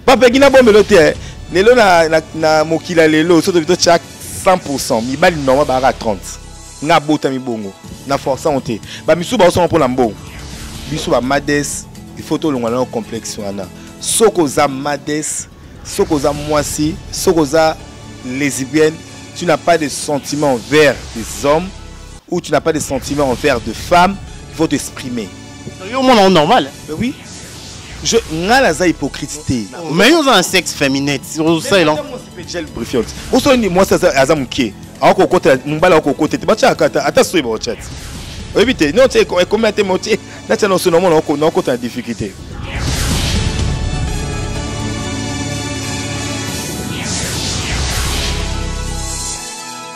bapeki na bomelo te eh. lelo na, na, na mokila lelo soto bito tya 100 mibali normal baaka 30 nga abota mibongo na forçant te bamisusu baosonga mpo na mbongo biso bamades ifo tolongwa nao complexe wana soki oza mades soki oza mwasi soki oza lesbienne tu n'as pas de sentiment envers des hommes ou tu n'as pas de sentiment envers de femmes il faut t'exprimer yo omona yango normal eh oui je nga naza hypocrite te mais yo oza na sexe féminin ozosalela osala nini mwasi aza moke akokota mobali akokota te batyaka ata ata soyi baotya te oyebi te no tye ekomi ate motye natya na osoni omona okota na difficulté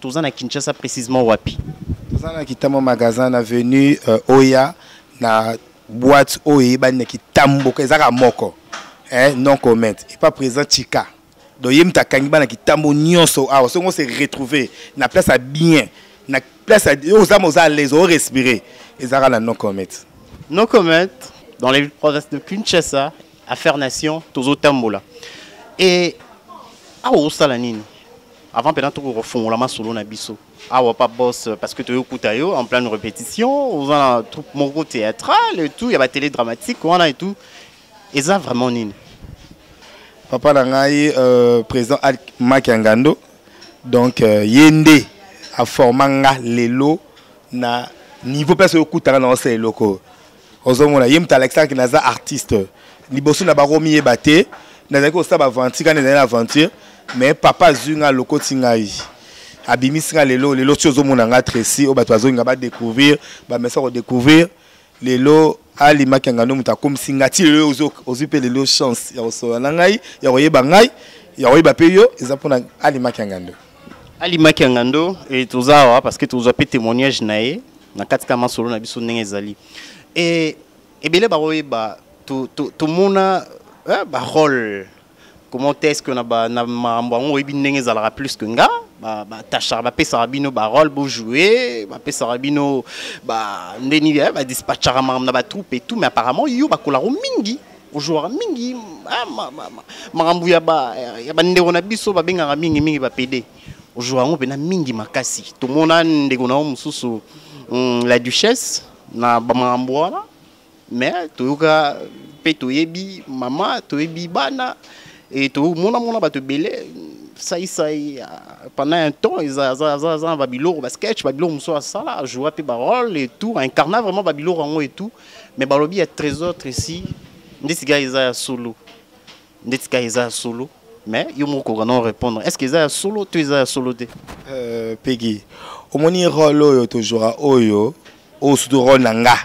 Toza na Kinshasa précisément wapi? Toza na Kitambo magasin na avenue euh, Oya na boîte oyo eyebani na Kitambo ezaka moko. Eh, non comment. Et pas présent Chika. Donc yem ta kangi bana Kitambo nyonso awa songo se retrouver na place à bien na place à aux âmes aux à l'aise au respirer. Ezaka na non comment. Non comment dans les provinces de Kinshasa affaire nation tozo tambola. Et ah au salanini Avant pena toko kofongola masolo na biso. Awa pa boss parce que tu écoutes yo en pleine répétition, aux en troupe moko théâtrale et tout, il y a ba télé dramatique wana et tout. Et ça vraiment nini? Papa na ngai euh, président Al Makiangando donc euh, yende a formanga lelo na niveau place okutaka na osa eloko. ozomona ye moto alakisaki naza artiste liboso na bango miyeba te nazalaki kosala baventure kani ezali na aventure mais papa azwi ngai alokoti ngai abimisi ngai lelo lelo ti ozomona ngai tresi oyo bato bazongi ngai badécouvrir bamesa kodécouvrir lelo alimaki ya ngando moto akomisi ngai ti lelo ozwi mpe lelo chance ya kosolola na ngai ya koyeba ngai ya koyeba mpe yo eza mpona alimaki ya ngando Ali Makiangando et tozawa parce que tozwa pe témoignage na ye na kati ka masolo na biso ndenge ezali. Et ebele ba oyeba to to to mona eh, ba rôle comment est-ce que na ba na mambo yango oyebi ndenge ezalaka plus que nga ba ba tachar ba pesa bino ba rôle bo jouer ba pesa bino ba ndeni eh, ba dispatchara mambo na ba troupe et tout mais apparemment yo ba kolaro mingi ojouaka mingi ah, makambo ya bandeko na biso babengaka mingi mingi bapede ojouaka yango mpena mingi makasi tomona ndeko na yo mosusu mm, la duchesse na bamakambo wana mais toyoka mpe toyebi mama toyebi bana e tomonamona bato ebele saisai ah, pendant un temps aza na babiloko basketch babiloko mosusu asala ajoua mpe barole et tout incarna vraiment babiloko yango et tout mais balobi ya trésor tresi nde tika eza ya solo nde tika eza ya solo mais yo moko okoka non répondre est ce que eza ya solo to eza ya solo te euh, pegi omoni role oyo tozwaka oyo oyo surtout role na nga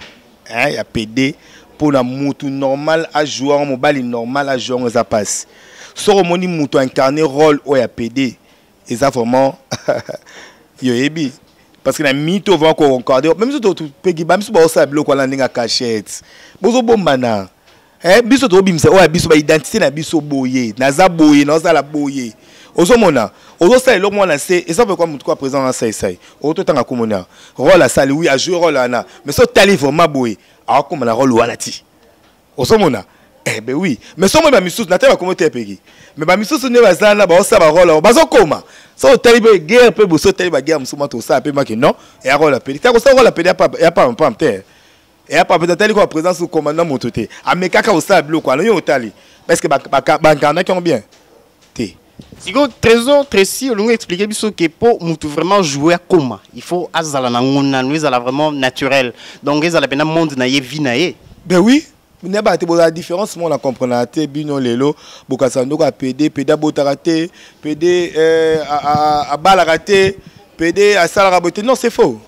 hein, ya pede mpo na mutu normal ajouer yango mobali normal ajouer yango eza mpasi soki omoni mutu incarne role oyo ya pede eza vraiment yo yebi parce que na minute oyo vraiment koconcorde mpe biso topeki ba biso baosala biloko wana ndenge ya cachette bozobombana eh, biso tokobimisa oyo ya biso baidentité na biso boye naza boye naosala boye ozomona ozosala eloko mwana se eza pekwa motu kwa président na saisai okototanga komona role asali wi ajoue role wana mais so otali vraiment boye akokoma na role wana ti ozomona eh ben oui mais somo ba misusu na teba komo te peki mais ba misusu ne baza na ba osa ba rôle bazo koma so otali be guerre pe boso otali ba guerre musuma to sa pe maki non et a rôle pe ta ko sa rôle pe ya pa ya pa pa te et a pa pe tali ko présence au commandant moto te amekaka osa biloko alo yo otali parce que ba ba ba nganaki bien te sikoyo trésor tracy olingi expliquer biso ke mpo mutu vraiment joue akoma il faut azala na ngo nanu ezala vraiment naturel donc ezala mpena monde na ye vie na ye ben oui na bato bozala différence moko na comprenaka te bino lelo bokasa ndoko ya pede pede abotaka te pede eh, abalaka te pede asalaka boye te non c'est faux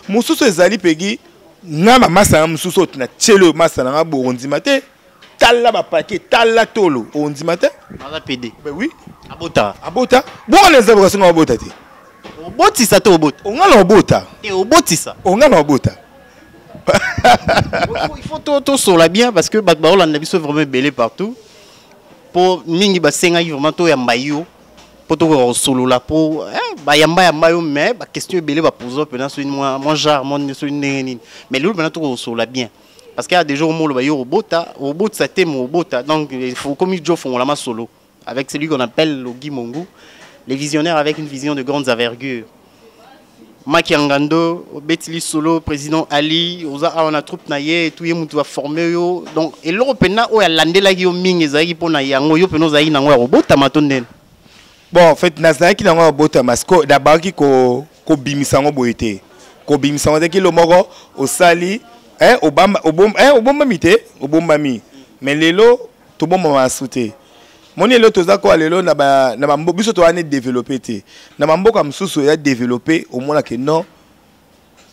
mosusu ezali pegi nga mamasa na mosusu oyo na tiele oyo masa na nga bokondima te tala ba paquet tala tolo ondima te aza pede ben oui abota abota boko na nzambe kasonga abota te obotisa to obota onga na obota te obotisa onga na obota il faut to to sola bien parce que bato baolanda biso vraiment ebele partout po mingi basengaki vraiment toyamba yo po tokoka kosolola po eh, bayamba yamba yo mais baquestion ebele bapoza mpena soki mwa genre mwa soki ndenge nini mais lelo mpena tokoka kosolola bien parce qu'il y a des jours molo bayo robota robota te mon robota donc il faut comme il faut la solo avec celui qu'on appelle Logi Mongu les visionnaires avec une vision de grandes envergures Maki Angando, Betili Solo, président Ali, Oza Awana Troupe Naye, tout Yemutu va former yo. Donc, et l'Europe n'a oya landela yo ming ezaki pona yango yo peno zaï nango ya robot tamaton den. bon en fait nazalaki nango ya botama siko nabaki kobimisa yango boye te kobimisa yango te kilo moko osali eh, obamba, obom, eh, obombami te obombami mais lelo tobombama su te moni lelo toza koya lelo na bamboka biso toyani développe te na bamboka mosusu ya développe omonake non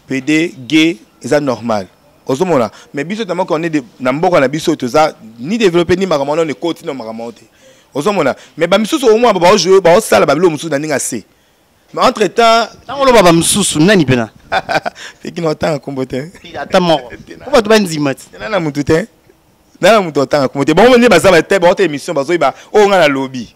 pede ge eza normal ozomona mais biso tama kone na mboka na biso toza ni développé ni makambo wana ekoti na makambo yango te ozomona mais bamisusu omwa baojoue baosala babilo mosusu na ndenge ase mais entre temps ntango oloba bamosusu nani mpena pekina otanga nkombo te ata moko po bato bandima te na motu te na motu otanga nkombo te bango nde baza te baote émission bazoyeba oyo ngai nalobi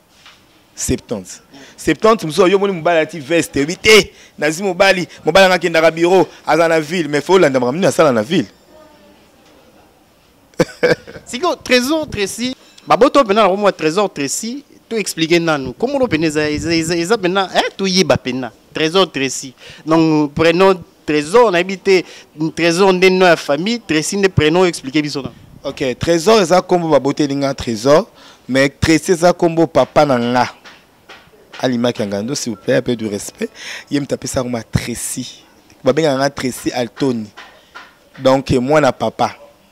70 70 mosusu yo omoni mobali alati veste oyebi te nazwi mobali mobali anga akendaka biro aza na ville mais fo olanda makambo nini asala na ville sikoyo trésor tracy baboto mpena nango mwa trésor tracy to expliquer nanu kombo no pena eza eza eza pena eh toyeba pena trésor tracy donc prenons Trésor na yebi te Trésor nde nom ya famille Tracy nde prénom expliquer biso na. Ok Trésor eza kombo ba boteli nga Trésor mais Tracy eza kombo papa na nga. Alima Kangando s'il vous plaît un peu du respect ye mtape sa ma Tracy. Ba benga nga Tracy Altoni. Donc moi na papa.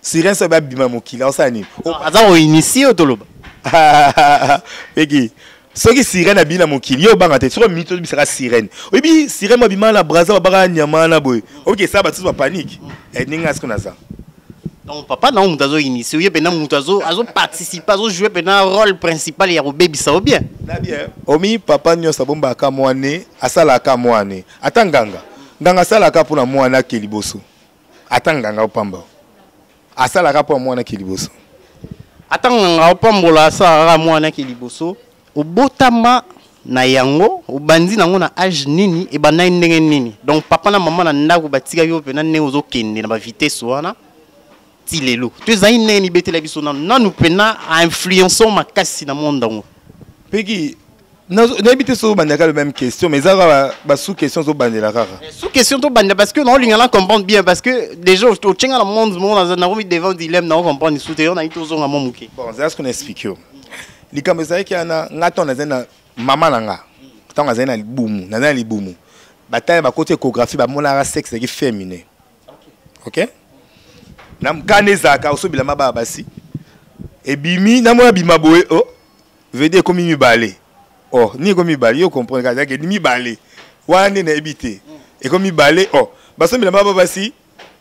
Siren so babima mokili aosala nini? Aza koinitie oyo toloba. Eki soki sirene abimi na mokili yo obanga te soki omimi tobisaka sirene oyebi sirene mo abima na braza babaka nyama wana boye oyoki esala bato soso bapanike eh, ndenge asiko naza donc papa nango moto azo initie oye mpena moto azoparticipe azojoue mpena rôle principal ya kobebisa o bien na bien omi papa nyonso abombaka mwane asalaka mwane ata nganga nganga asalaka mpo na mwane ake liboso ata nganga opamba asalaka mpo amwanaki liboso ata nganga opambola asalaka amwanaki liboso obotama na yango obandi nango na age nini ebandaki ndenge nini donc papa na mama na ndako batikaki yo mpena ndenge ozokende na bavitesse wana ti lelo to ezali ndenge mibetela biso nanu nanu mpena ainfluençon makasi na monde yango peki nayebi te soki obandela kaka le même question mais eza kaka basous question ozobandela kaka eh, sous question tobandela parce que naolinga na comprendre bien parce que déjà otyenga na monde moko nakomi devant dilemme nao comprendre lisusu te yo nayi tozonga mwa moke bon zala soki na explike yo likambo ezalaki ana nga ntango nazali na mama na nga ntango azali na libumu nazali na libumu batali bakoti échographie bamonaka sexe ezalaki féminin ok na mokanda ezalaka osobilama baa basi ebimi namona bima boye o oh. vedi ekomi mibale oh ni ekomi mibale yo comprendre kaka ezalaki mibale wana nde nayebi te mm. ekomi mibale oh basombi lamba ba basi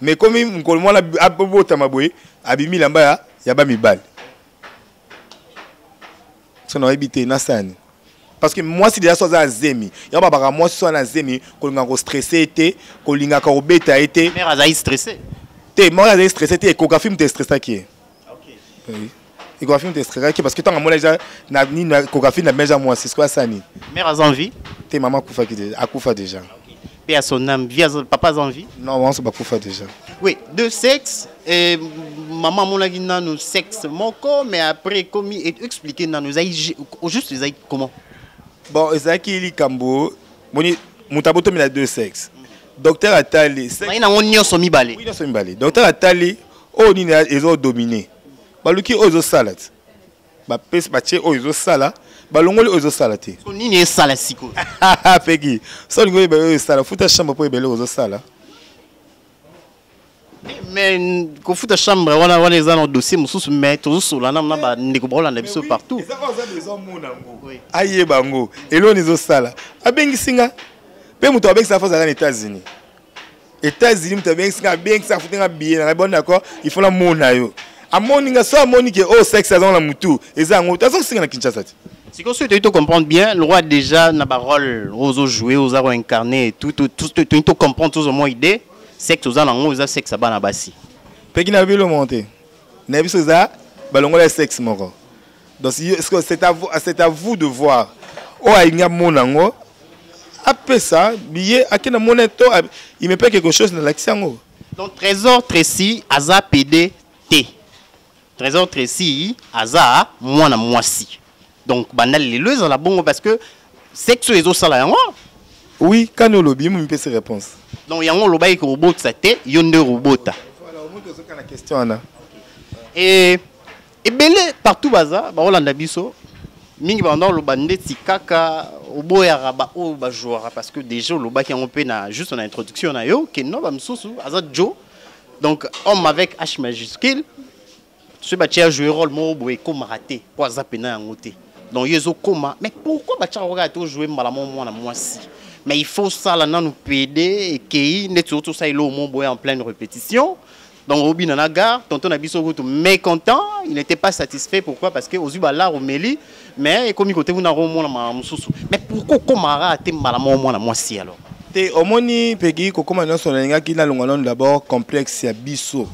mais ekomi mokolo mwana abotama boye abimi lamba ya, ya bamibale so nayebi te nasani parce que mwasi deja so aza na zemi yango babaka mwasi so aza na zemi kolingaka kostresse ye te kolingaka kobeta ye te te mare azali stresse te ekographie moto estressaki ye Échographie te stressaki parce que tant amona déjà na nini échographie na meza moi c'est quoi ça ni Mère a envie Te maman kufa ki déjà akufa déjà. Paix à son âme. Vie à son- Papa a envie Non, on se bakufa déjà. Oui, deux sexes. Et maman monaki nanu sexe moko, mais après comme et expliquer nanu ezali ju- au juste ezali comment Bon, ezaki likambo moni mutabo to mina deux sexes. Docteur atali sexe Ezali nango nyonso mibale. Oui, nyonso mibale. Docteur atali oyo nini ezo dominer. baluki oyo ezosala te bapesi batie oyo ezosala balongoli oyo ezosala te nini esala sikoyo pegi so olingi oyeba oyo esala futa chambre mpo ebele ozosala mais kofuta chambre wana wana eza na dossier mosusu mais tozosola na na bandeko bakolanda biso partout ayeba yango eloni ezosala abengisi nga mpe moto abengisa fo azalaka na états-unis États-Unis moto abengisi nga abengisi afuti nga billet na bon d'accord il faut namona yo amoni nga so amoni ke oyo oh, sexe azango na motu eza yango te azokosenga na kinshasa te sikoyo soki toyei tocomprendre bien loi déjà na barole oyo ozojoue oza koincarne toyei tocomprendre tozomwa idée sexe oza nango eza sexe ya bana basi peki na bilomo te na biso eza balongola sexe moko donc c'est à, vous, c'est à vous de voir oyo alingi amona yango apesa biye akenda mona to il me paye quelque chose nalakisi yango donc trésor tracy aza pede te trésor tracy aza mwana mwasi donc banda lelo ezala bongo parce que sexe oyo ezosala yango oui kani olobi momipesi réponse donc yango olobaki kobotisa te yo nde robota voilà, voilà, question wana e ebele partout baza bakolanda biso mingi banda oloba ndeti kaka oboyaka baoyo bajouaka parce que déjà olobaki yango mpe na juste na introduction na yo ke no bamosusu aza joe donc homme avec h majuscule soki batye ya joue role moko boye ekomaka te mpo aza mpena yango te donc yo ezokoma mais pourquoi batyaka kaka te ojoue mbala moko mwana mwasi mais il faut osala nanu pede ekei ndeti oti osala eloo mo boye en pleine répétition Donc au bina na gare, tonton na biso kutu mécontent, il n'était pas satisfait pourquoi parce que ozuba la romeli mais ekomi kote kuna ko mona ma mususu. Mais pourquoi komara te mbala mo mwana mwasi alors? Te omoni pegi kokoma nyonso nalingaki nalonga nano d'abord complexe ya biso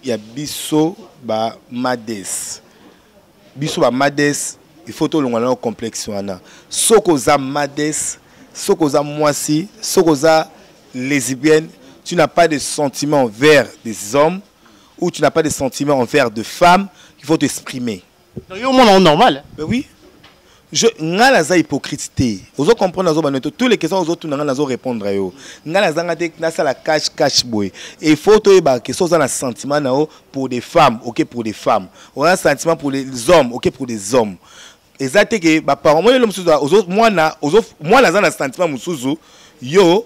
ya biso ba mades biso ba mades il faut tolonga na complexe wana soki oza mades soki oza mwasi soki oza lesbienne tu n'as pas de sentiment envers des hommes ou tu n'as pas de sentiment envers de femmes il faut t'exprimer yo omona normal mais oui Je, nga naza hypocrite te ozo comprendre nazo banoto tous les questions ozo tuna nga nazo répondre yo nga nazanga te nasala cash cash boye il faut toyeba ke so oza na sentiment na yo pour des femmes ok pour des femmes oza na sentiment pour les hommes ok pour des hommes eza te ke baparent mwana elo mosusu mwana aza na sentiment mosusu yo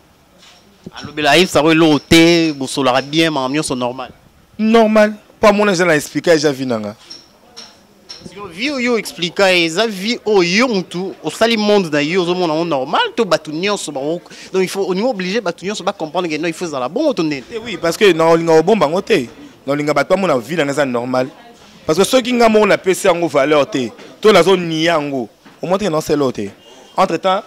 alobela ayebisa yango eloko te bosolaka bien makambo nyonso normal normal mpo amona eza na explika eza vi na nga vie oyo explika ye eza vie oyo yo motu osali monde na yo ozomona yango normal to bato nyonso bango donc il faut olingi oblige bato nyonso bacomprendre ke non il faut ezala bongo to ndeni eh oui parce que na olinga obomba yango te na olinga bato bamona vie na nga eza normal parce que soki nga moko napesi yango valeur te to nazonia yango omonte ke naosala oyo te entre temps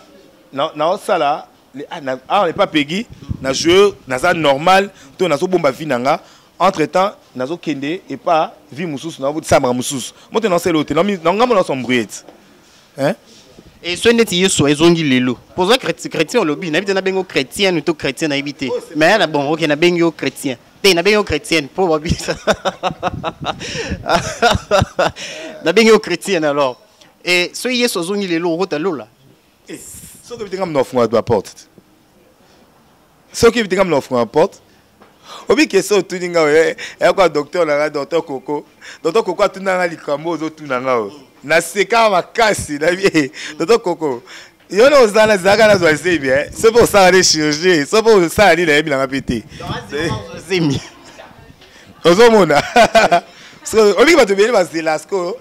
naosala ah, awa epa pegi na joue naza normal to nazobomba vie na nga entre temps nazokende epa vie mosusu naotisambaka mosusu moto nasela oyo te na ngambo nasombrie ti e soki ndeti yesu ezongi lelo poza chrétien olobi nayebi te nabengi yo chrétienne to chrétien nayebi te mais yala bon ok nabengi yo chrétien te nabengi yo chrétienne mpo babisa nabengi yo chrétienne alors e soki yesu azongi lelo okota lola Eh, soki oyebi te nga mna ofungola ba porte te soki oyebi te nga mna ofungola ba porte obi question otuni nga oye eh, eyako ya docteur na nga docteur koko docteur koko atuna nga likambo ozotuna nga oyo naseka makasi nayebi eh, docteur koko yo na ozala nazalaka nazwa zemi so mpe osala nde chirurgie so mpe osala nini nayebi nanga mpe te ozomona obiki bato ebele bazela sikoyo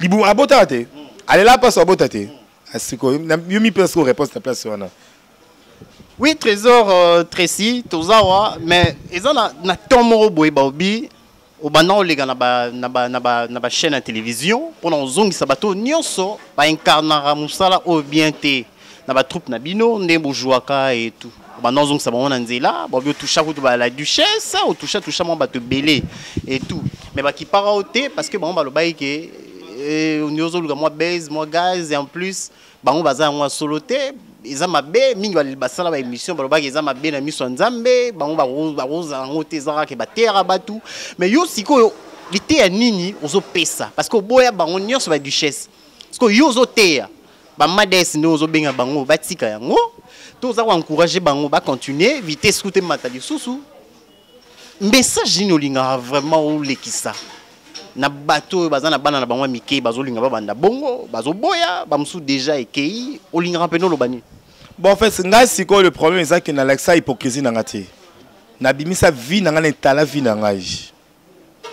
libumu abotaka te alela mpasi abota te sikoyo yo mipesa sikoyo réponse na place wana oui trésor euh, tracy toza wa mais eza na, na temps moko boye baobi obanda oleka na bachaîne ya télévision mpo na kozongisa bato nyonso baincarnaka mosala oyo bien te na ba troupe na bino nde bojouaka et tout banda ozongisa bango na nzela bobi otoucha kutu ba la duchesse otoucha toucha mwa bato ebele et tout mais bakipaka o te parce que bango balobaki ke eh, ondi ozoluka mwa base mwa gaz en plus bango baza yango ya solo te eza mabe mingi basala ba émission balobaki eza mabe na miso ya nzambe bango bakozala yango te eza kaka ke bateyaka bato mais yo sikoyo liteya nini ozopesa parce que oboya bango nyonso ba duchesse sikoyo yo ozoteya ba mades nde ozo benga bango batika yango to oza ko encourager bango ba continuer vitesse kute mata lisusu message nini olingaka vraiment olekisa na bato oyo baza na bana na bango ya mike bazolinga babanda bongo bazoboya bamosusu deja ekei olingaka mpena oloba nini bon en fait ngai sikoyo le problème ezaki nalakisa hypocrisie na ngai te nabimisa vie na ngai na etala vie na ngai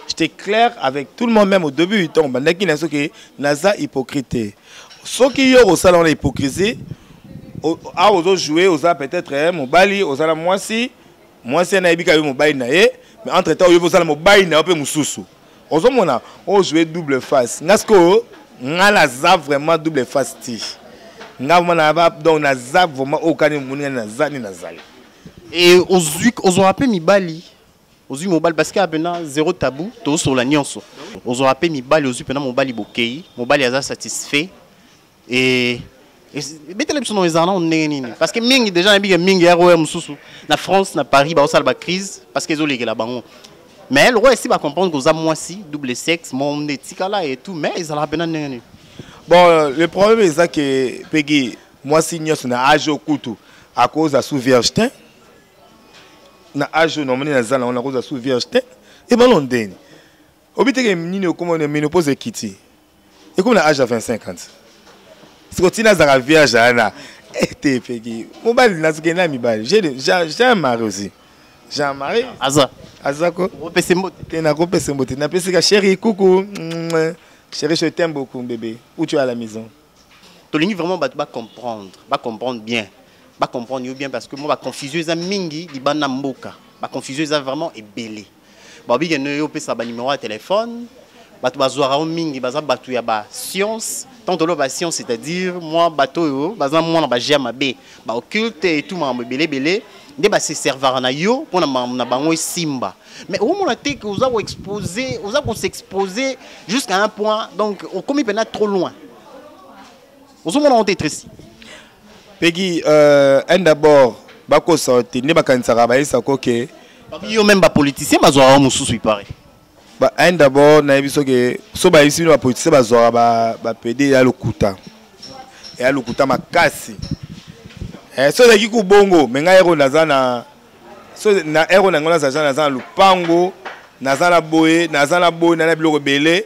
j'étais clair avec tout le monde même au début du temps bandaki na soki naza hypocrite soki yo osala wana hypocrisie awa ozo joue oza peut-être eh, mobali oza na mwasi mwasi anayebi ka yo mobali na ye mais entre temps oyebi ozala mobali na yo mpe mosusu ozomona ojoue double face nga sikoyo nga naza vraiment double face ti nga vraiment na donc naza vraiment oyo kani omoni nga naza ni nazali ozwaka mpe mibali ozwi mobali parce que ya mpena zero tabou tozosola nyonso ozwaka mpe mibali ozwi mpena mobali bokei mobali aza satisfait e ebetela biso nao ezala nao ndenge nini parce que mingi déjà nayebi ke mingi ya roya mosusu na france na paris baosala bacrise parce que ezolekela bango mais lokola esi bacomprendre koza mwasi double sexe mo nde etikala et tout mais ezalaka mpena ndenge nini bon le problème eza ke pegi mwasi nyonso na age okutu akoza sous vierge te na age oyo namoni naza nango nakozwa sous vierge te ebalo ndeni obiteke nini okoma na menopause ekiti ekomi na age ya 25 ans siko ntina azalaka vierge ana ete epeki mobali nazokende na mibali jean marie aussi jean marie aza aza ko opesi mbote te nakopesa mbote napesi ka chéri kuku chéri je t'aime beaucoup bébé où tu as la maison tolingi vraiment bato bacomprendre bacomprendre bien ba comprendre yo bien parce que moi ba confusion eza mingi libanda mboka ba confusion eza vraiment ebele ba bige ne yo pesa ba numéro ya téléphone bato bazwaka yo mingi baza bato ya ba science tant tolo ba science c'est-à-dire moi bato oyo baza mwana ba gère mabe ba occulte et tout makambo ebele ebele nde ba se servaka na yo mpo na makambo na bango esimba mais okomona te ke oza koexpose oza kosexpose jusqu'à un point donc okomi mpena trop loin ozomona yango te tracy pegi euh, un d'abord bakosa te nde bakanisaka bayesa koke yo meme bapoliticien bazwaka yo mosusu ipare un d'abord nayebi soki so bayebisi bino bapoliticien bazwaka bapede ya lokuta ya lokuta makasi eh, so ezalaki kubongo me ngai ero naza na so na ero na yango nazaja naza na lupango naza na boye naza na boye naza na biloko ebele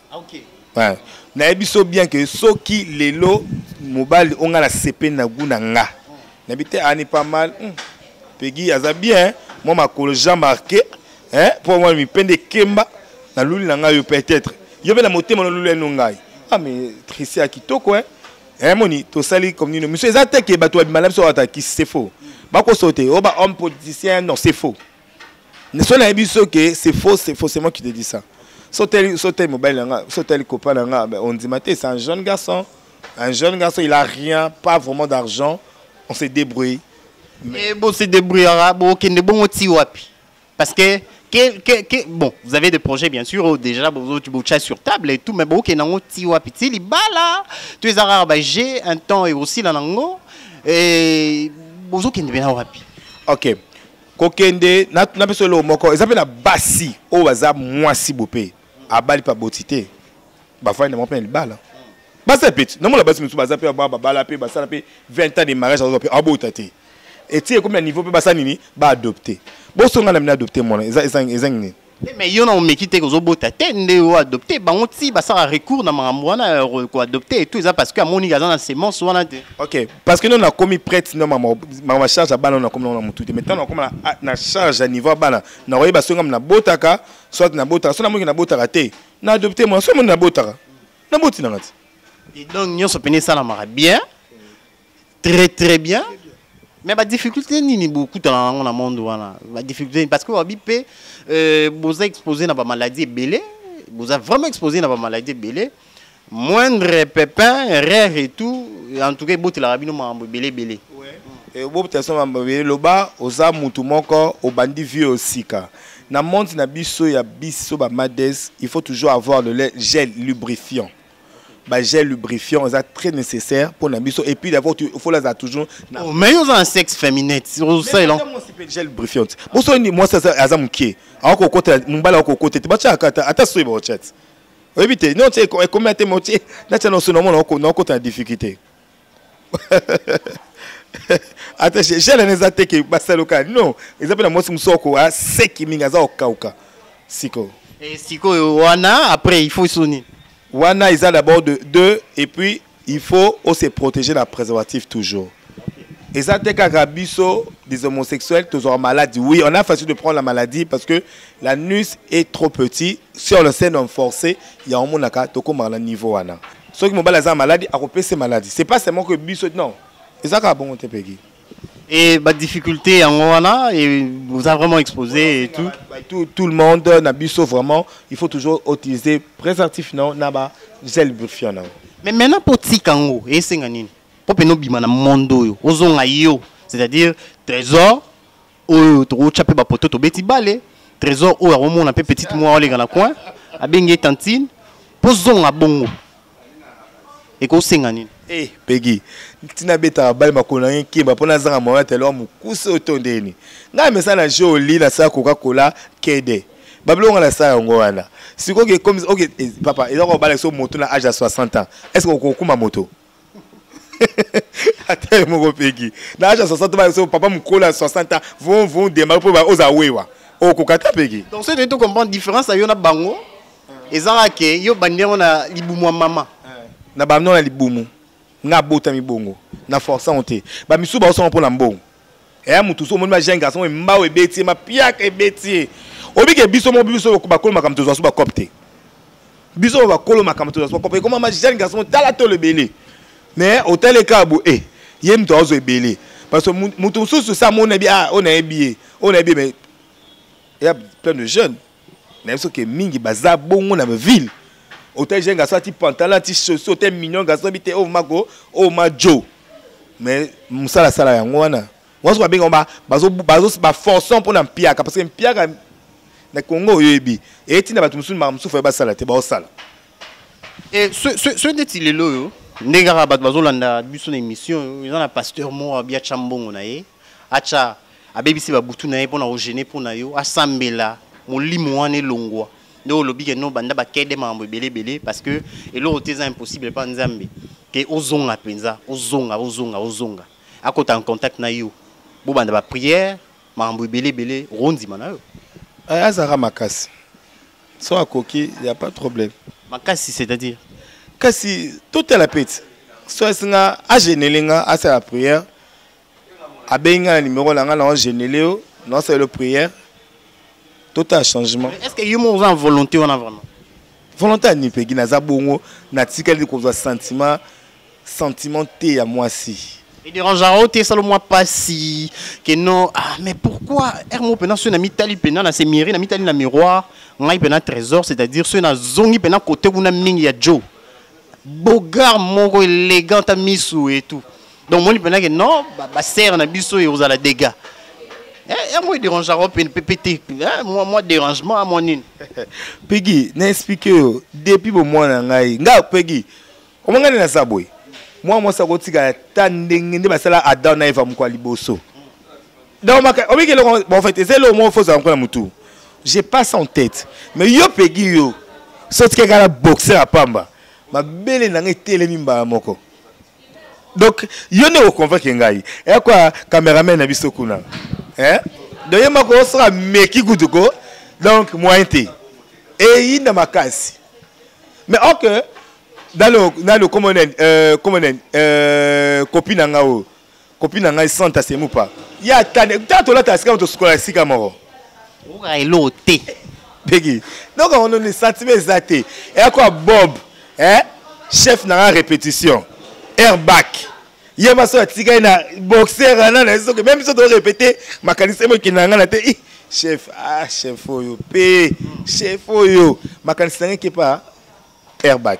Okay. Ouais. nayebi so bien ke soki lelo mobali onga na sepe na gu na nga nayebi te ani pas mal hmm. pegi aza bien mwa makolo jean marqué mpo mwa mipende ekemba na luli na ngai yo peut-être yo mpe na motema noluli eno ngai ah mais trisi ya kitoko eh. eh, moni tosali comme nino miso eza te ke bato babimala biso atakisi c'est faux bakoso te oyo oh, ba homme politicien non c'est faux neso nayebi biso ke c'est faux c'est forcément qui te dit ça soteli soteli mobali na nga soteli copain na nga ben ondima te c'est un jeune garçon un jeune garçon il a rien pas vraiment d'argent on se débrouille mais bon se débrouillera bon kende bongo ti wapi parce que quel, quel, quel, bon, vous avez des projets bien sûr, oh, déjà, vous tu bouchez sur table et tout, mais bon, ok, nango tiwa piti li bala, tu es arabes, bah, j'ai un temps et aussi la nango, et vous ok, n'est bien wapi. Ok, kokende natuna biso eloko moko eza mpe na basi oyo baza mwasi bope abali mpe aboti te bafandi na bango mpe na libala baza mpe ti namona basi mosusu baza mpe babala mpe basala mpe 20 ans de mariage azwa mpe abota te eti ekomi na niveau mpe basala nini baadopte bosonga na mina adopte mwana ezangi nini te mais yo na omeki te kozobota te nde yo adopte bango ti basala recours na makambo wana ya ko- koadopte etu eza parce que amoniki aza na semence wana te ok parce que nano nakomi prête no mama mama charge ya bana oyo nakomi nango na motu te mais ntango nakoma na- na charge ya niveau ya bana nakoyeba soki ngam nabotaka soit nabotaka so namoniki nabotaka te na adopte mwana so namoni nabotaka naboti nanga te Et donc nyonso mpene esalamaka bien très très bien mais ba difficulté nini bokutana nango na monde wana ba difficulté parce que wabi mpe euh, boza exposé na ba maladie ebele boza vraiment exposé na ba maladie ebele moindre pepin rare et tout en tout cas ebotelaka bino makambo ebele ebele obobotela so makambo ebele loba oza mutu moko obandi vie osika na monde na biso ya biso ba mades il faut toujours avoir le gel lubrifiant ba gel lubrifiant eza très nécessaire pour na biso et puis d'abord il faut la toujours na oh, mais yo za sexe féminin sur ça il moi c'est pas gel lubrifiant bo so ni moi ça aza mukie ako kota mumbala ako kota te ba cha kata ata so ba chat oyebi te non te e combien te motie na cha no so no mo na ko na ko ta difficulté ata gele eza te ke basaluka non eza mpe na mwasi mosusu oko aseki mingi aza kokauka sikoyo eh, sikoyo wana après il faut so nini wana eza d'abord de deux et puis il faut ose protéger na préservatif toujours eza te kaka biso des homosexuels tozwaka maladie oui on a facile de prendre la maladie parce que la nus est trop petit si on le scène on forcé yango omonaka tokomaka na niveau wana soki mobali aza maladi akopesa ye maladi c'est pas seulement que biso non eza kaka bongo te pegi et ba difficulté yango wana et vous a vraiment exposé et tout tout tout le monde na biso vraiment il faut toujours utiliser préservatif na na ba gel lubrifiant na mais maintenant po tika yango esenga nini po pe no bima na monde oyo ozonga yo c'est-à-dire trésor oyo tokotya mpe bapoto tobeti bale trésor oyo akomona mpe petite mwa olenga na coin abengi ye tantine mpo zonga bongo ekosenga nini e eh, pegi ntina abetaka bale makolo na ye nkemba mpo nazanga moya telo mokuse oyo to ndeni ngai mesa na jeu oli nasala koka kola kede babilonga nasala yango wana sikoyo oke eh, papa eza kobala biso moto na age ya 60 ans est ce que okokuma moto ata ye moko pegi na age ya 60 baso papa mokolo ya 60 ans vont vont demare mpo oza wewa okoka ta pegi donc soki toyei tocomprendre différence ya yo na bango ezaka ke yo obandi yango na libumu ya mama na bando na libumu nga abotami bongo na force yango te bamisusu baosanga mpo na mbongo eya motu so omoni ba jeune garçon oyo mbao ebeti ye mapiaka ebeti ye obike biso moko biso bakolo makambo tozwa so bacope te biso bakolo makambo tozwa so bacope ekoma ma jeune garçon tala tolo ebele mais otali kaka bo e eh, ye moto azwa ebele parce que motu mosusu sa amoni nayebi ah oyo nayebi ye oyo nayebi ye mais eya plein de jeunes na biso ke mingi baza bongo na ville ote jeune garçon ati pantalon ati chaussure ote mignon garçon oyebi te oyo oh, mako oyo oh, ma jo mais mosala asala yango wana wana soki babenga yango baforçant mpo na mpiaka parce que mpiaka na congo oyebi eyeti na bato mosusu makambo mosusu faye basala te baosala eh, soki ndeti lelo oyo ndenge kaka bato bazolanda biso na émission eza na pasteur moko abiatya mbongo na ye acha abebisi ba butu na ye pona ko gêner pona yo asambela molimo wana elongwa nde olobi ke no banda bakede makambo ebele ebele parce que eloko te eza impossible epa nzambe ke ozonga mpenza ozonga ozonga ozonga akota en contact na yo bobanda baprière makambo ebele ebele okondima na yo eh, azalaka makasi so akoki ya pas problème makasi c'est-à-dire kasi totala peti so esinga agenele nga asala prière abengi ngai na nimero na ngai na ogenele yo na osalelo prière totala changement est ce que yo moko oza na volonté wana vraiment volonté ya nipegi naza bongo natikali kozwa sentiment sentiment te ya mwasi ederangaka o te esala mwa mpasi ke non ah, mais pourquoi r mo mpena soki na mitali mpena na semiri na mitali na miroir ngai mpena trésor c'est à dire soki nazongi mpena kote kuna mingi ya joe bogar moko elegant ta misu et tout donc omoni mpena ke non basere na biso ekozala dégâts eh, yango edérangaka mpe te eh, mwa dérangement mwa nini pegi na explike yo depuis bomwana na ngai nga pegi omangani naza boye mwa mwasi akotikala ta ndenge nde basala adam na eva moko ya liboso donc maka obi ke loko bon en fait ezelo mo faut za na mutu j'ai pas ça en tête mais yo pegi yo soki kaka la boxer à pamba ma belle na ngai telemi mbala moko donc yo ne oconvaincre ngai ya kwa cameraman na biso kuna hein donc ye mako osala meki kutu ko donc moyen te eyinda makasi mais or que dans le dans le comment on euh, comment on euh, copie na ngai oyo Copine na ngai Santa Semupa. Ya tane, ta tolata sika moto sukola sika moko. Oka elo te. Begi. Donc on ne sentiment eza te. Et quoi Bob, hein? Chef na la répétition. Airbag. Hier ma soeur tika na boxer na na soki même si on doit répéter makanisa mo kinanga na te. Chef, ah chef oyo pe, chef oyo makanisa ngeke pa airbag.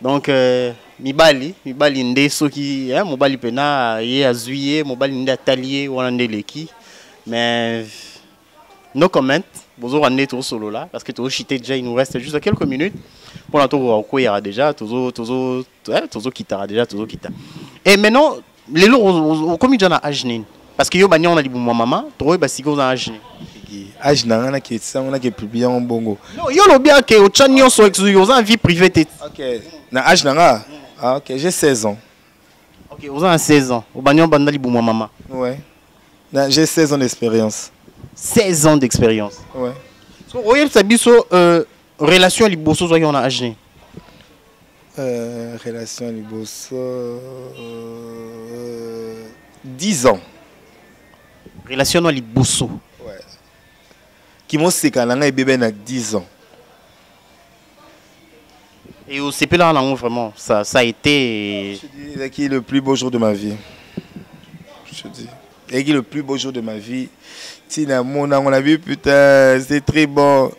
donc euh, mibali mibali nde soki eh, mobali mpena ye azwi ye mobali nde atali ye wana nde eleki mais no comment bozoka nde tozosolola parce que tozoshite déjà il nous reste juste quelques minutes mpona tokoka kokweyaka déjà tozokitaka eh, déjà tozokita et maintenant lelo okomi deja na age nini parce que yo bania wana libumu ya mama tokoyeba basika oza na age nini age na ngai naketisa yango nakepublie yango bongo yo olobi ake otya nyonso oza na vie privée te ok na age na nga ah, ok j'ai 16 ans ok oza na 16 ans obania obanda libumu ya mama ouais j'ai 16 ans d'expérience 16 ans d'expérience ouais so oyebisa biso euh, relation ya liboso ozwaki yango na age nini euh, relation ya liboso euh, 10 ans relation ya liboso ouais. kimoseka na ngai ebebe na 10 ans Et au CP là, on vraiment, ça, ça a été. Je dis, le plus beau jour de ma vie. Je dis. Eki le plus beau jour de ma vie. Tina mon on a vu putain, c'est très bon.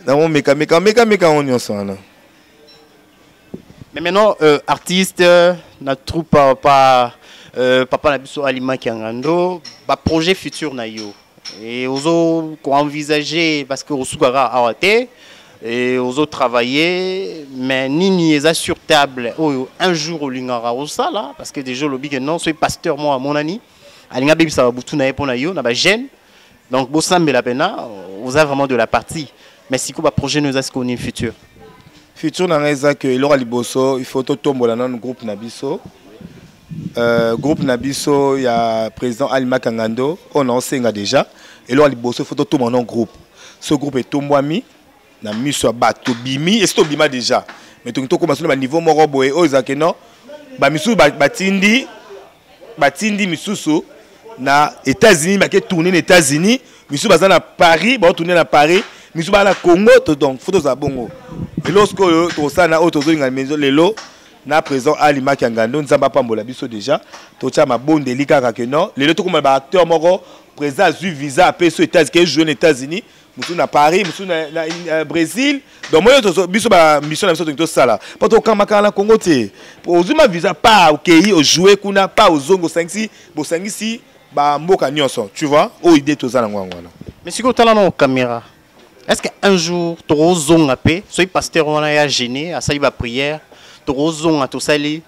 Na mon meka meka meka meka on yon son là. Mais maintenant euh, artiste euh, na troupe euh, pas euh, papa na biso Alima Kiangando, ba projet futur na yo. Et ozo ko envisager parce que osukaka awate. Et ozo travailler mais nini eza sur table oyo un jour olingaka osala parce que déjà olobi que non soki pasteur moko amonani alinga abebisa babutu na ye mpo na yo na bagene donc bosambela mpena oza vraiment de la partie mais sikoyo baprojet no eza sikoyo nini futur futur na ngai eza ke eloko ya liboso il faut totombola nanu groupe na biso Euh, groupe na biso ya président ali makangando oyo naosenga déjà eloko ya liboso fo totoma no groupe so groupe etombwami na miso ya bato tobimi esi tobima déjà mais toki tokoma so na baniveau moko boye oyo ezalaki no bamisusu batindi batindi misusu na états-unis bake tourne na états-unis misusu baza na paris baotourne na paris misusu baa na congo donc fo tozala bongo eloko sikoyo tokosala na oyo tozolinga lelo na président Ali Makia Ngando nzambe apambola biso déjà totia mabondeli kaka que non lelo tokoma ba acteur moko président azui visa apesi états ke jouer na états-unis mosusu na paris mosusu na, na, na brésil donc moyo biso bamission na biso tolingi tosala mpo tokamakaka na congo te ozwi ma visa pa okei ojoue kuna pa ozongi osangisi bosangisi bamboka nyonso tu vois oyo ide toza nango yango wana mais sikoyo otala nao caméra est-ce que un jour tokozonga mpe soki pasteur wana ya gene asali baprière tokozonga tosali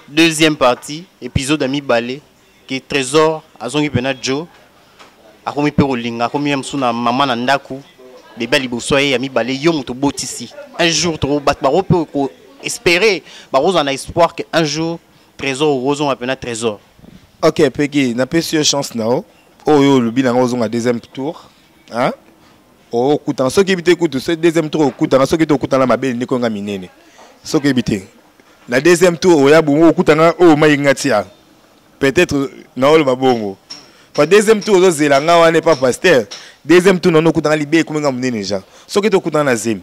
deuxième partie épisode ya mibale ke trésor azongi mpena joe akomi mpe kolinga akomi ya mosusu na mama na ndako bebe ya liboso ye ya mibale yo moto obotisi un jour bato bango mpe koespere bakozala na espoir ke un jour trésor okozonga mpena trésor ok peki napesi yo chance na yo oyo olobi na ngai ozonga deuxième tour hein okutana soki yebi te kutu so deuxième tour okutana soki te okutana mabele ndeko yanga minene soki yebi te na deuxième tour oya bongo okutana oyo mai nga tia peut-être naoloba bongo pa deuxième tour ozozela nga wana epa pasteur deuxième tour nano okutana libe ekomi nga monene ja soki te okutana na zemi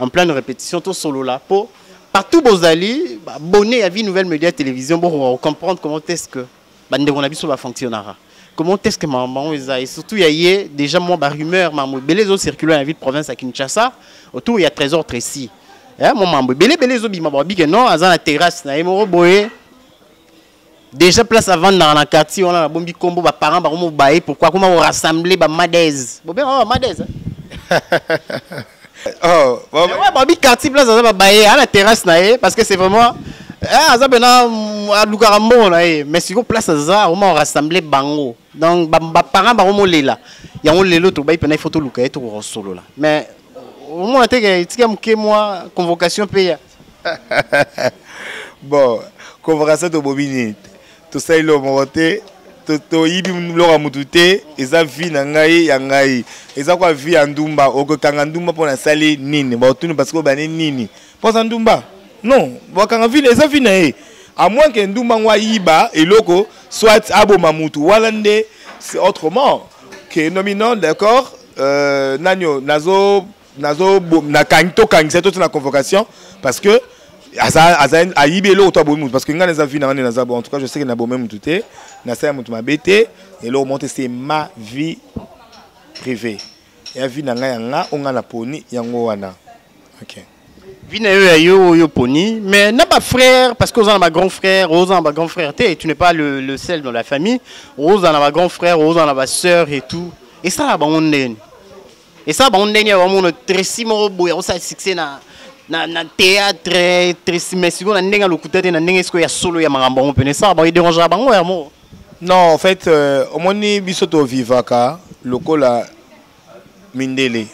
en pleine répétition tout solo là pour partout bozali abonné à vie nouvelle média télévision pour comprendre comment est-ce que bande on a biso ba fonctionnera comment est-ce que maman eza et surtout il y a déjà moi ba rumeur maman belé zo circuler la ville province à Kinshasa autour il y a trésor Tracy hein mon maman belé belé zo bima ba bige non azana terrasse na emoro boye Déjà place avant dans la quartier on a la bombi combo ba parents ba komo baye pourquoi comment on rassembler ba madez. Bon bien oh madez. Hein. oh, bon, ouais, bah, bi quartier place aza ba baye à la terrasse na ye parce que c'est vraiment eh aza bena alukaka mbongo na ye mais sikoyo place aza oma orassemble bango donc baparent bango molela yango lelo tobai mpena ifo toluka ye tokokosolola mais omona te ke etika moke mwa convocation mpe ya bon convocation tobomi nini tosali loo moko te toyibi biloko ya motu te eza vie na ngai ya ngai eza kwa vie ya ndumba okokanga ndumba mpo nasali nini baotuni parce que obani nini mpo aza ndumba non bakanga vie eza vie na ye à moins que ndumba yango ayiba eloko soit aboma motu wana nde c'est autrement que nomino d'accord euh, nani oyo nazo nazo na kangi to kangisa to na convocation parce que aza aza ayibi eloko to abomi mutu parce que ngai naza vie na ngai naza bon en tout cas je sais que na bomi mutu te na sala mutu mabe te eloko monte c'est ma vie privée ya vie na ngai ya nga o ngai na poni yango wana ok vie na yo ya yo oyo poni mais na ba frère parce que oza na ba grand frère oza na ba grand frère te tu n'es pas le, le seul dans la famille oza na ba grand frère oza na ba sœur et tout esala bango ndeni esala bango ndenge ya bamona tresi moko boye akosala succès na na, na théâtre tresi mais sikoyo na ndenge ya lokuta te na ndenge sikoyo ya solo ya makambo yango mpena esala bango edérangaka bango ya moko non en fait euh, omoni biso tovivaka lokola mindele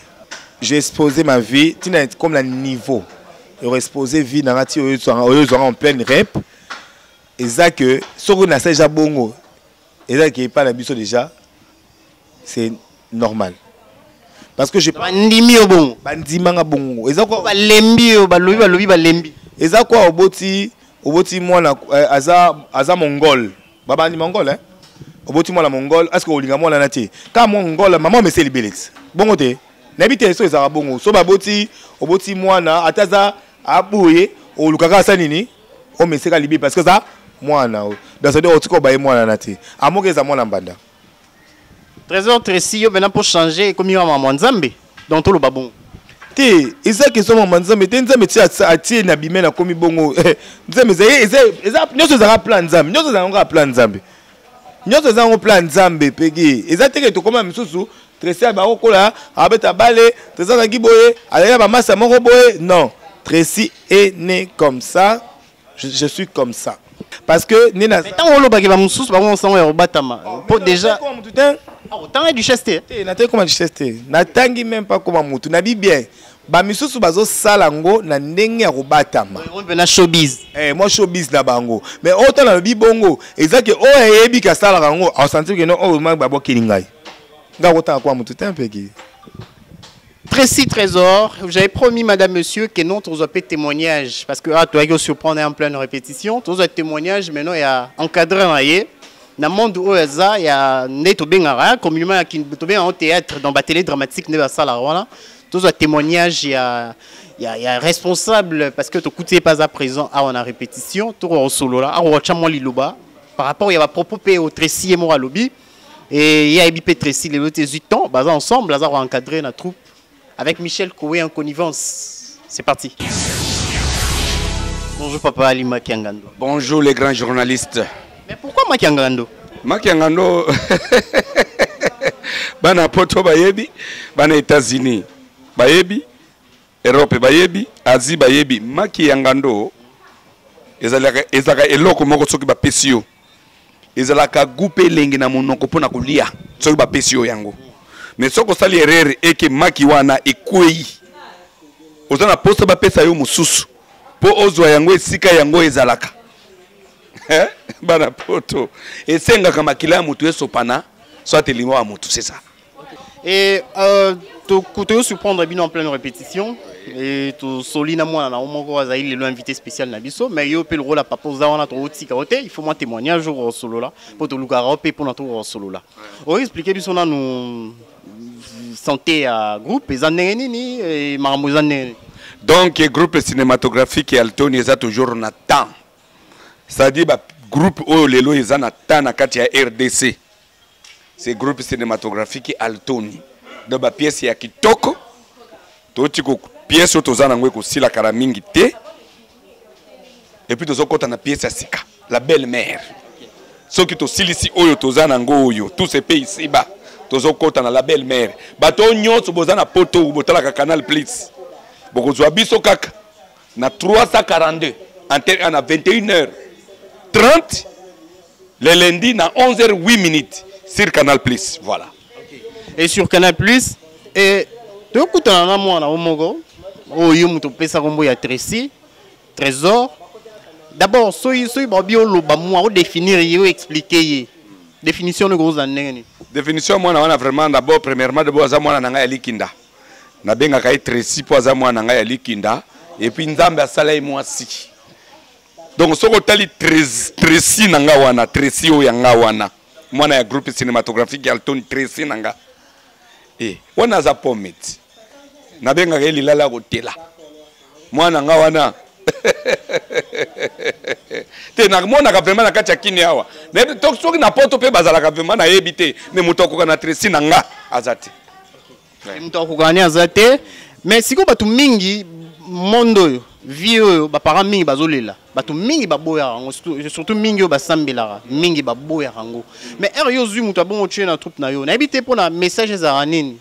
j'ai exposé ma vie tina comme na niveau ero exposé vie nanga ti oyo ezwanga en pleine rep eza que soki nasali ja bongo eza ke epai na biso déjà c'est normal parce que je bandimi yo bongo bandima nga bongo eza quoi balembi yo balobi balobi balembi eza quoi oboti oboti mwana eh, aza aza mongol babandi mongol hein oboti mwana mongol est ce que olinga mwana na te ka mongol mama omeseli beleti bongo te nayebi te so ezalaka bongo so baboti oboti mwana ata aza aboye olukaka asa nini o meseka libi parce que eza mwana oyo donc cest otika obaye mwana na te amoki eza mwana mbanda trésor tracy yo mpena mpo changer ekomi wa mama nzambe donc toloba bongo te eza question mama nzambe te nzambe ti atie na bime nakomi bongo nzambe eza nyonso ezalaka plan nzambe nyonso ezalaka kaka plan nzambe nyonso eza yango plan nzambe pegi eza teke tokoma misusu tresi bakokola abeta bale tresi azalaki boye azalaki ya bamasa moko boye non tresi est né comme ça je, je suis comme ça parce que nde na ntango olobaki bamosusu bango mosango ya kobatama oh, mpo déjà motu te ah, otanga duchesse te eh, nataki koma duchesse te natangi meme pas koma motu nabi bien ba misusu bazo sala ngo na ndenge ya kobatama na showbiz eh moi showbiz na bango mais autant na lobi bongo eza que oyo ayebi ka sala ngo au sentir que non oh ma babo kilingai nga kotanga kwa mutu tempe ki Tracy Trésor, j'avais promis, madame, monsieur, que non, tu pas témoignage. Parce que, ah, tu as surprendre en pleine répétition. Tu as témoignage, maintenant, il y a encadré, na monde oyo eza ya nde tobengaka communement ya tobengaka théâtre dans batele dramatique nde basala wana tozwa témoignage ya ya, ya responsable parce que tokuti ye mpe aza présent awa na répétition tokoka kosolola akoka tya mwa liloba par rapport ya bapropos mpe oyo tracy ye moko alobi ye ayebi mpe tracy lelo te ezwi temps baza ensemble aza koencadre na troupe avec michel kowe en connivence c'est parti bonjour papa ali makiangando bonjour les grands journalistes Mais pourquoi Makiangando Makiangando bana poto bayebi bana États-Unis bayebi Europe bayebi Asie bayebi Makiangando ezalaka ezalaka eloko moko soki bapesi yo ezalaka goût mpe elengi na monoko mpo na kolia soki bapesi yo yango mais soki osali errere eke maki wana ekwei oza na mposa bapesa yo mosusu mpo ozwa yango esika yango ezalaka eh, bana poto esengaka makila ya motu esopana soit elimo ya motu c'est ça et euh, toyo surprendre bino en pleine répétition et tosoli na mwana na yo moko azali lelo invité spécial na biso mais yo mpe lokola papa oza wana tokotika yo te il faut mwa témoignage oko osolola mpo tolukaka yo mpe mpo na toko osolola oexplike biso nanu santé ya groupe eza ndenge nini e, makambo eza ndenge nini donc groupe cinématographique ya altoni eza toujours na temps c'est-à-dire ba groupe oyo lelo eza na temps na kati ya rdc c'est groupe cinématographique altoni donc ba pièce ya kitoko toti ko pièce oyo toza nango ekosila kala mingi te et puis tozokɔta na pièce ya sika la belle mère soki tosilisi oyo toza nango oyo tout se paye ici bas tozokɔta na la belle mère bato oyo nyonso boza na poto botalaka canal plus bokozwa biso kaka na 342 antenne na 21 heures 30 le lundi na 11 heures 8 minutes sur canal plus voilà et sur canal plus et tokutana na mwana o moko oyo yo moto opesa kombo ya tracy trésor d'abord soki soki babi oloba mwa odefinir ye oexplike ye définition noko ozala ndenge nini définition mwana wana vraiment d'abord premièrement debo aza mwana na ngai ya likinda nabengaka ye tresi mpo aza mwana ngai ya likinda epuis nzambe asala ye mwasi donc soki otali tresi na nga wana tresi oyo ya nga wana mwana ya groupe cinématographique ya altoni tresi na nga e wana aza pometi nabengaka ye lilala ya kotela mwana nga wana te namonaka vraimen na kati ya kini awa soki na poto mpe bazalaka vraimen nayebi te me moto akoka na tresi na nga aza te moto akokani aza te me sikoyo bato mingi monde oyo vie oyo baparent mingi bazolela bato mingi baboyaka yango surtout mingi oyo basambelaka mingi baboyaka yango mais heure yo ozwi moto abongo tue na troupe na yo nayebi te mpo na message ezalaka nini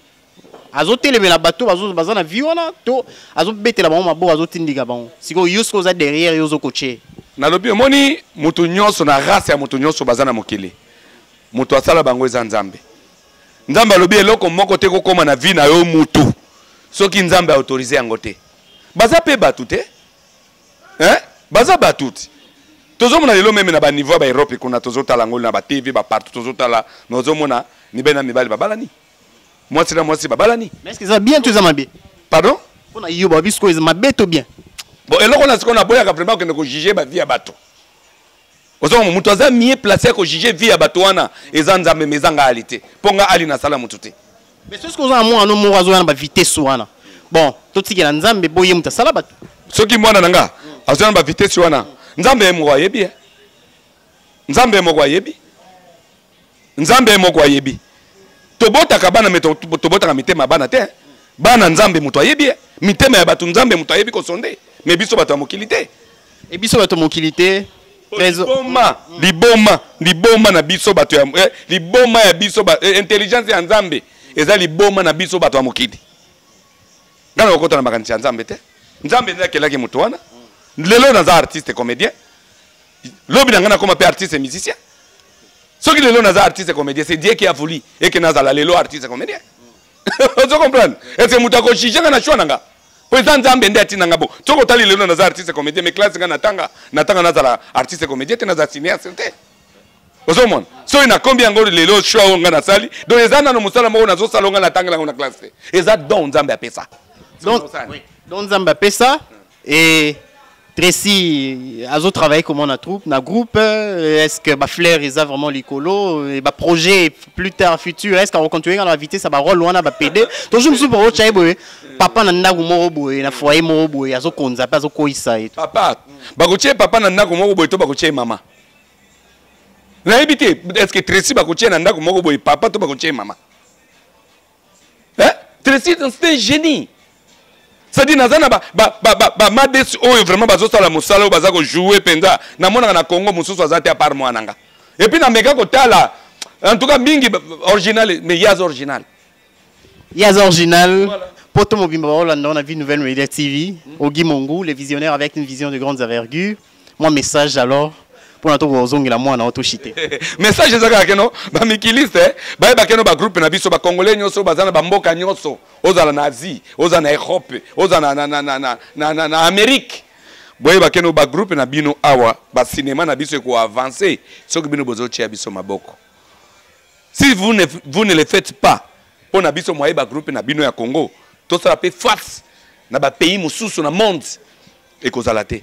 azotelemela bato bazo baza na vie wana to azobetela bango maboko azotindika bango sikoyo yo soki oza derrière yo ozokotie nalobi omoni moto nyonso na race ya moto nyonso baza na mokili moto asala bango eza nzambe nzambe alobi eloko moko te kokoma na vie na yo mutu soki nzambe autorise yango te baza mpe bato te eh? baza bato te tozomona lelo meme na baniveau ya baeurope kuna tozotala yango na batv bapartout tozotala me ozomona mibali na mibali babalani mwasi na mwasi babalani mais eza bien to eza mabe pardon mpo na yo babi sikoyo eza mabe to bien bon eloko na sikoyo naboyaka vraiment okende kojuge bavie ya bato ozongo moto aza mie place ya kojuge vie ya bato wana eza nzambe ma eza ngali te mpo nga ali nasala motu te mais soki oza na mwana moko azoya na bavitesse wana bon totikela nzambe mpo ye moto asala bato soki mwana na nga azoya na bavitesse wana nzambe ye moko ayebi ye eh? nzambe ye moko ayebi nzambe ye moko ayebi tobotaka bana me tobotaka mitema ya bana te bana nzambe moto ayebi ye mitema ya bato nzambe moto ayebi kosonde me biso bato ya mokili te e biso bato ya mokili te liboma liboma liboma na biso bato ya eh, liboma ya biso eh, intelligence ya nzambe eza liboma na biso bato ya mokili ngai nakokota na makanisi ya nzambe te nzambe nde akelaki moto wana lelo naza artiste comédien lobi na ngai nakoma mpe artiste musicien soki lelo naza artiste comédien c'est dieu qui a voulu eke nazala lelo artiste comédien ozo comprendre ese moto akojuge nga na choix na nga mpo eza nzambe nde atina nga bo soki otali lelo naza artiste comédien mais classe nga natanga natanga nazala artiste comédien te naza cinéaste te ozomona soki nakombi yango lelo choix oyo nga nasali donc eza nano mosala moko nazosala nga natangela yango na classe te eza don nzambe apesa donc nzambe apesa Et Tracy azo travailler comment na troupe na groupe est-ce que ba fleur eza vraiment likolo et ba projet plus tard futur est-ce qu'on continue à inviter ça ba rôle wana ba PD toujours musu pour ocha boye papa na ndaku moko boye na foyer moko boye azo konza pe azo koisa et papa ba ko papa na ndaku moko boye to ba ko mama nayebi te est-ce que Tracy ba ko na ndaku moko boye papa to ba ko mama hein? Tracy c'est un génie c'est-à-dire naza na bamades oyo vraiment bazosala mosala oyo baza kojoue mpenza namonaka na congo mosusu aza te apart mwana nga epuis nameka kotala en tout cas mingi original mais yaz original yaz original voilà. Poto Mobimba Baolanda, on a vu Nouvelle Media TV, Ogi Mongu, les visionnaires avec une vision de grandes envergures. mwa message alors mpona tokozongela mwana o toshite message eza kaka keno bamikiliste bayeba keno bagroupe na biso bacongolais nyonso baza na bamboka nyonso ozala na asie oza na europe oza na, na, na, na, na, na, na, na amerike boyeba keno bagroupe na bino awa basinema na biso ekoavanse soki bino bozotia biso maboko si vous ne, vous ne le faites pas mpo na biso moye bagroupe na bino ya congo tosala mpe face na bapays mosusu na monde ekozala te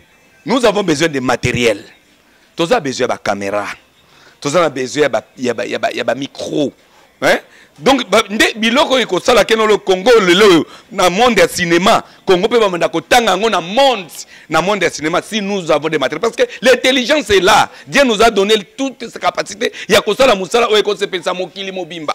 nous avons besoin de matériel toza besoin ya bacaméra toza na besoin ya bamicro ya ba, micro hein? donc nde biloko oyo ekosala keno le congo lelo oyo na monde ya cinéma congo mpe bamanda kotanga yango na monde na monde ya cinéma si nous avons des matériel parce que l'intelligence est là dieu nous a donné toute sa capacité ya kosala mosala oyo ekosepelisa mokili mobimba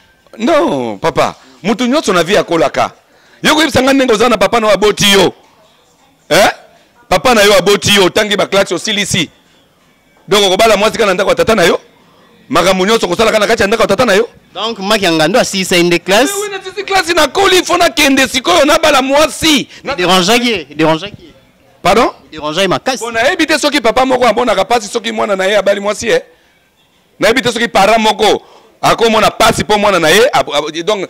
non papa mutu nyonso na vie akolaka yo koyebisa ngai ndenge oza na papa na yo aboti yo eh? papa na yo aboti yo otangi baklase osilisi donc okobala mwasi kaka na ndako ya tata na yo makambo nyonso kosalaka na kati ya ndako ya tata na yo donc maki ya ngando asilisa ye nde classe eh nasisi classe nakoli fo nakende sikoyo nabala mwasi derangeaki ye derangeaki ye pardon derangeaki makasi mpo nayebi te soki papa moko amonaka mpasi soki mwana na ye abali mwasi ye eh? nayebi te soki parent moko akomona pasi mpo mwana na ye donc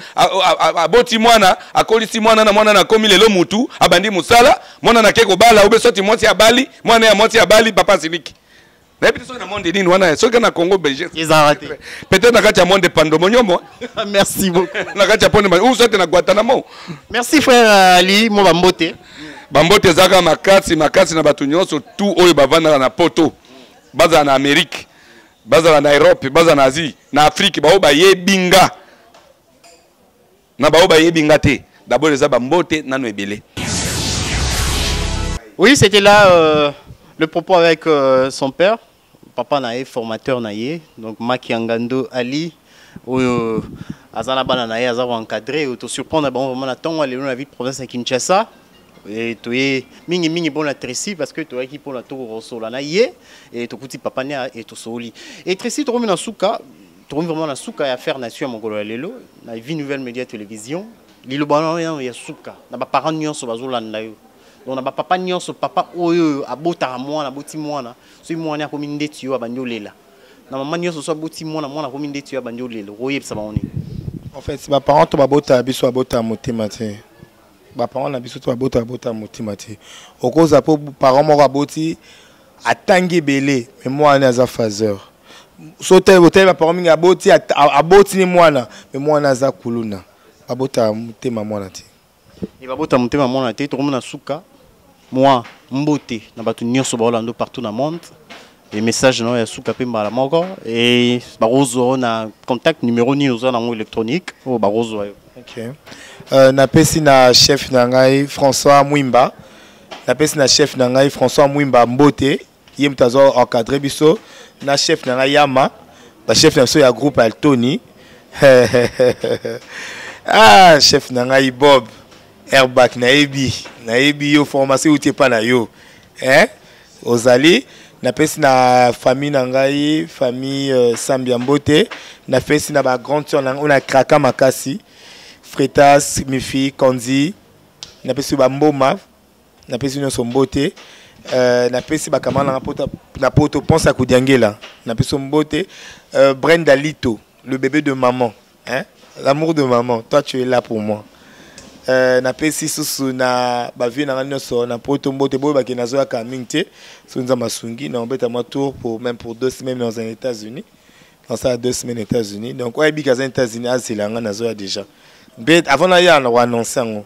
aboti mwana akolisi mwana na mwana na akomi lelo mutu abandi mosala mwana na ke kobala obe soti mwasi abali mwana ya mwasi abali papa asiliki nayebi te soki na monde nini wana soki na congo belge peut-être na kati ya monde pando monyomo merci beaucoup na kati ya pone ou soit na guantanamo merci frère euh, ali mo bambote bambote ezalaka makasi makasi na bato nyonso tout oyo bavandaka na poto bazala na amerike bazala na europe bazala na asie na afrike baoyo bayebi nga na baoyo bayebi nga te dabord eza bambote nano ebele oui c'était là euh, le propos avec euh, son père papa na ye formateur na ye donc makiangando ali oyo euh, aza na bana na ye aza koencadre oyo tosurprendre bango vraiment na ntongo ya lelo na ville province ya kinshasa Eh, toye mingi mingi mpona Tracy parce que toyaki mpona tokosola na ye eh, tokuti papa ne eh, tosoli e Tracy tokomi na suka tokomi vraiment na suka ya faire nation ya mokolo ya lelo na vie nouvelle media télévision liloba na yo ya suka na baparent nyonso bazolanda yo donc na bapapa nyonso papa oyo oyo abotaka mwana aboti mwana soki mwana akomi ndeti yo abandi olela na mama nyonso so aboti mwana mwana akomi ndeti yo abandi olela okoyebisa bango nini en fait baparent to babota biso abota motema te baparent na biso to babota babota motima te okozala mpo parent moko aboti atangi ebele me mwana ne aza phaseur so otali baparent mingi aboti aboti ni mwana me mwana aza kuluna babota motema mwana te e babota motema mwana te tokomona suka mwa mbote na bato nyonso baolando partout na monde e message na yo ya suka mpe mbala moko e bakozwa yo na contact numero nini oza nango électronique oyo bakozwa yo okay. uh, napesi na chef na ngai françois mwimba napesi na chef na ngai françois mwimba mbote ye moto azo encadre biso na chef na ngai yama bachef na biso ya groupe altoni ah chef na ngai bob airbak nayebi nayebi yo formation euti epai na yo eh? ozali napesi na famille na ngai famille euh, sambi ya mbote napesi na ba grande sœur na ngai oyo na kraka makasi fretas mifi kanzi napesi bamboma napesi nyonso mbote euh, napesi bakamara na ngai na poto mponsa ya kodiangela napesi mbote euh, brenda lito le bébé de maman hein? l'amour de maman toi tu es là pour moi euh, napesi susu na bavie na ngai nyonso na poto mbote boye bakende nazoyaka mingi te soki nza masungi na obeta mwa tour pour même pour deux semaines dans un états-unis nasala deux semaines états-unis donc oyebi kaza états-unis azela ngai nazoya déjà mpe avant naya na koannonce yango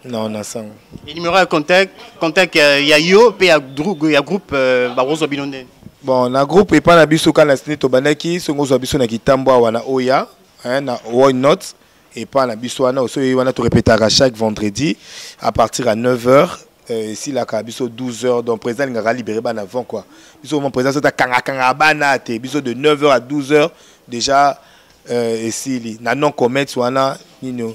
Non, na sang. Et numéro de contact, contact euh, ya yo pe ya groupe ya groupe euh, ba rozo binonde. Bon, na groupe epa na biso kana sini to bandaki songo zo biso na kitambo awa na Oya, hein, na Why Not epa na biso wana oso wana to répétaka chaque vendredi à partir à 9h euh, esilaka biso 12 heures donc président alingaka libéré bana avant quoi biso vraiment président soki akangakanga bana te biso de 9 heures à 12 heures déjà euh, esili na non commet wana nini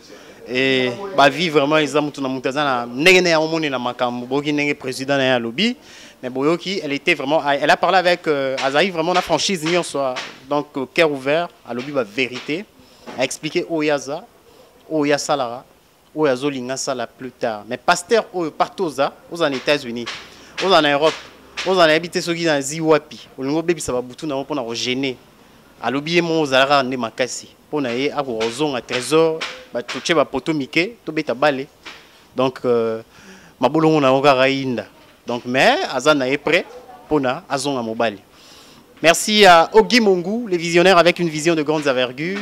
ba vie vraiment eza mutu na mutu aza na ndenge na yango moni na makambo boyoki ndenge président na ye alobi mais boyoki elle était vraiment elle a parlé avec euh, azali vraiment na franchise nyonso donc euh, cœur ouvert alobi ba vérité a expliqué oyo aza oyo asalaka oyo azolinga asala plus tard mais pasteur oyo partout oza oza na états-unis oza na europe oza nayebi te soki nazi wapi olingi obebisa babutu na yango mpo na kogene alobi ye moko ozalaka nde makasi mpo na ye akoka kozonga trésor totie bapoto mike tobeta bale donc euh, mabolongo na yango kaka yinda donc mais aza na ye prêt mpo na azonga mobali merci à ogi mongu le visionnaire avec une vision de grandes envergures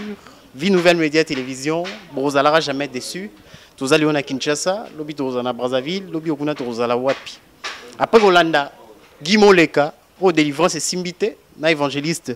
vie nouvelle média télévision bozalaka jamais déçu tozali yo na kinshasa lobi tokozala na brazzaville lobi okuna tokozala wapi après kolanda gi moleka oyo délivrance esimbi te na évangéliste